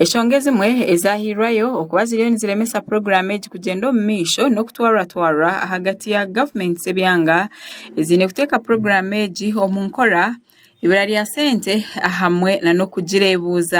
Enshonga ezimwe ezaahairweyo okuba ziriyo niziremesa puroguraamu egi kugyenda omu maisho n'okutwarwatwarwa ahagati ya gavumenti z'ebyanga eziine kuteeka puroguraamu egi omu nkora, eibura rya sente hamwe n'okugireebuuza.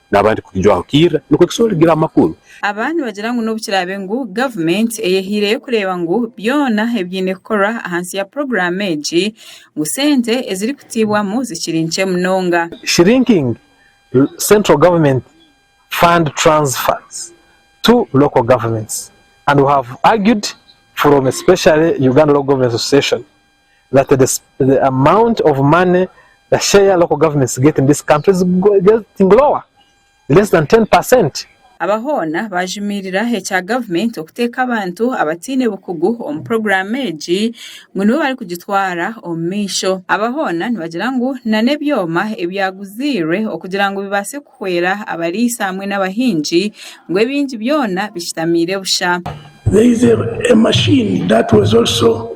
n'abandi kugijwaho kairira nikwo kishushana okugira amakuru. Aba nibagira ngu n'obu kiraabe ngu gavumenti eyehaireyo kureeba ngu byona ebiine kukorwa ahansi ya puroguraamu egi, ngu sente ezirikutaibwamu zikiri nkye munonga. Shrinking Central Government Fund Transfers to Local Governments and we have argued from especially Uganda Local Governments Association that the the amount of money the share local governments get in this country is getting lower less than 10 percent Aba hoona baajumirira ekya gavumenti okuteeka abantu abataine bukugu omu puroguraamu egi ngu nibo barikugitwara omu maisho. Aba hoona nibagira ngu nana ebyoma ebyaguziirwe okugira ngu bibaase kuhwera abariisa hamwe n'abahingi ngu ebingi byona bishutamiire busha. There is a machine that was also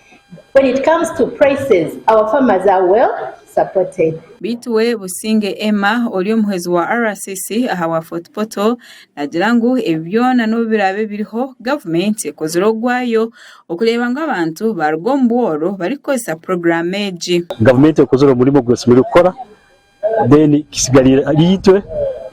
When it comes to prices our farmers are well supported. Beitu we Businge Emma ori omuhwezi wa RCC aha wa Fort Portal nagira ngu ebi byona nobu birabe biriho gavumenti ekozire ogwayo okureba ngu abantu baruga omu bworo barikukozesa puroguramu egi. Gavumenti ekozire omurimo ogwesemeriire kukora then kisigarire ahari itwe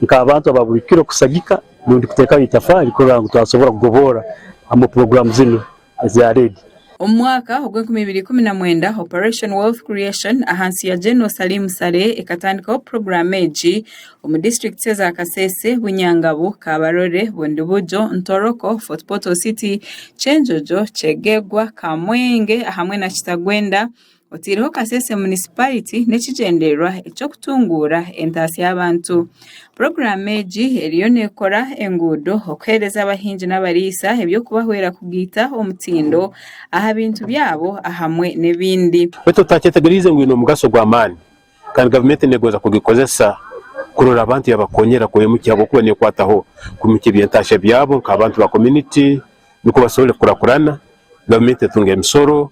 nk'abantu aba buri kiro kusagika rundi kuteekaho itafaari kurora ngu twasobora kugoboora omu puroguraamu zinu eza REDD. Omu mwaka ogw'enkumi ibiri ikumi na mwenda, Operation Wealth Creation ahansi ya General Salim Saleh ekatandikaho puroguraamu egi omu disiturikiti eza Kasese, Bunyangabu, Kabarole, Bundibugyo, Ntoroko, Fort Portal City, Kyenjojo, Kyegegwa, Kamwenge hamwe na Kitagwenda. oteireho Kasese Munisipariti n'ekigyendererwa eky'okutunguura entaasya y'abantu. Puroguraamu egi eriyo neekora enguudo okuheereza abahingi n'abariisa eby'okubahwera kugaita omutindo aha bintu byabo ahamwe n'ebindi. Beitu otakyetegyereize ngu eine omugasho gw'amaani kandi gavumenti neegonza kugikozesa kurora abantu yaabakonyera kwimukya ahabw'okuba neekwataho kwimukya eby'entaasya byabo nk'abantu ba komuniti nikwo basobole kukurakurana, gavumenti etunga emisoro.